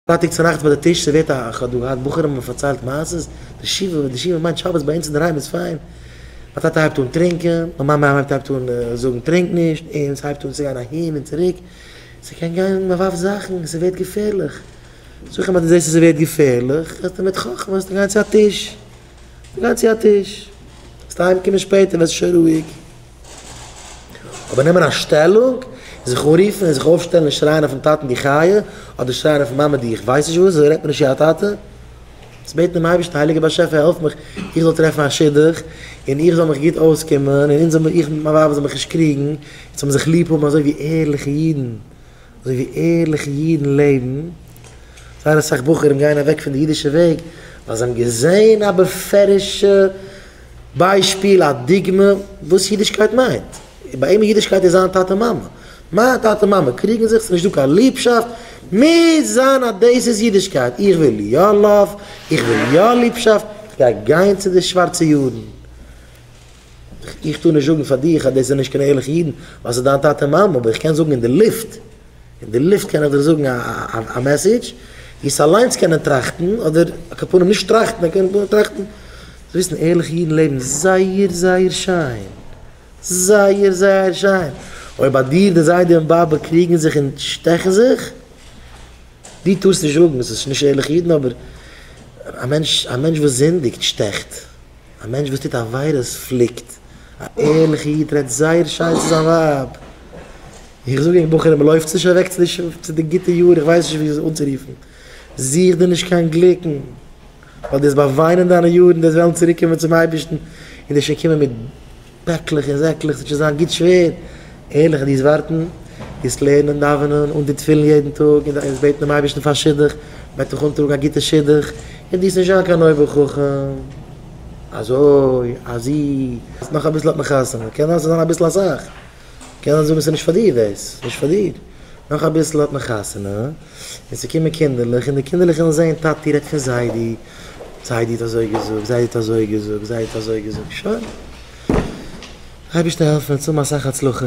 פרייטאג צונאכטס ביי די טיש סערווירט א איך האב דא געהאט בחורים און פארציילט מעשות, די שבעה וואס די שבעה מיינט שבת ביי אונז אינדערהיים איז פיין, מיין טאטע הייבט אן טרינקען, מיין מאמע הייבט הייבט אן זאגן טרינק נישט, אונז הייבט אן צו גיין אהין און צוריק, ס'קען גיין מען ווארפט זאכן, ס'ווערט געפערליך, זאג איך אים אז דו זעסט אז ס'ווערט געפערליך וועסטו מיט חכמה וועסטו גיין צו א טיש, וועסטו גיין צו א טיש, וועסטו אהיימקומען שפעטער ווערסטו שוין רואיג. אבער נעמען א שטעלונג, זיך אנרופן און זיך אויפשטעלן און שרייען אויפן טאטן די חיה, אדער שרייען אויפן מאמע די איך ווייס נישט וואס, אזוי רעדט מען נישט צו א טאטע. זיך בעטן דעם אייבערשטן, הייליגער באשעפער העלף מיך איך זאל טרעפן א שידוך, און איך זאל מיך גוט אויסקומען, און אונז זאל מיר, איך מיט מיין ווייב זאל מיך נישט קריגן, אונז זאל מען זיך ליב האבן אזוי ווי ערליכע אידן. אזוי ווי ערליכע אידן לעבן, זייער אסאך בחורים גייען אוועק פון די אידישע וועג ווייל זיי האבן געזען א בפירוש'ע ביישפיל, א דוגמא, וואס אידישקייט מיינט. ביי אים איז אידישקייט איז זיין טאטע מאמע. מיין טאטע מאמע קריגן זיך, ס'איז נישטא קיין ליבשאפט, מוז זיין אז דאס איז אידישקייט. איך וויל יא לאוו, איך וויל יא ליבשאפט, איך גיי גיין צו די שווארצע יודן. איך טאר נישט זאגן פאר דיך אז דאס זענען נישט קיין ערליכע אידן ווייל ס'איז דיין טאטע און מאמע, אבער איך קען זאגן אין די לופט, אין די לופט קען איך דיך זאגן א מעסעדזש, וועסט אליינס קענען טראכטן, אדער על כל פנים נישט טראכטן, אבער קענען טראכטן, זאלסט וויסן ערליכע אידן לעבן זייער זייער שיין, זייער זייער שיין, אויב ביי דיר די זיידע און באבע קריגן זיך און שטעכן זיך, דו טארסט נישט זאגן, ס'איז נישט ערליכע אידן, אבער א מענטש, א מענטש וואס זינדיגט שטעכט. א מענטש וואס טוט עבירות פליקט, א ערליכע איד רעדט זייער שיין צו זיין ווייב, איך זאג אייך בחורים לויפטס נישט אוועק צו די גוטע יאר, איך ווייס נישט ווי עס אנצורופן, זוך דיר נישט קיין גליקן, ווייל דו וועסט באוויינען דיינע יארן, דו וועסט וועלן צוריק קומען צום אייבערשטן און דו וועסט שוין קומען מיט. פעקלעך און זעקלעך, ס'וועט שוין זיין גוט שווער, ערליך דאס ווארטן, דאס לערנען, דאווענען, אן די תפילין יעדן טאג, און דאס בעטן דעם אייבערשטן פאר שידוך, מ'וועט דיך אנטראגן א גוטע שידוך, און דאס נישט זיין קיין אויבער חכם, אזוי, אזי, אז נאך אביסל האט מען חתונה, קען זיין ס'זענען אביסל אסאך, קען זיין זאגן ס'נישט פאר דיר דאס, נישט פאר דיר, נאך אביסל האט מען חתונה. און ס'קומען קינדערלעך, און די קינדערלעך ווילן זען, טאטי רעדט פון זיידי, זיידי האט אזוי געזאגט, זיידי האט אזוי געזאגט, זיידי האט אזוי געזאגט, שוין. אייבערשטער העלף מיר און צאל מיר אסאך הצלחה.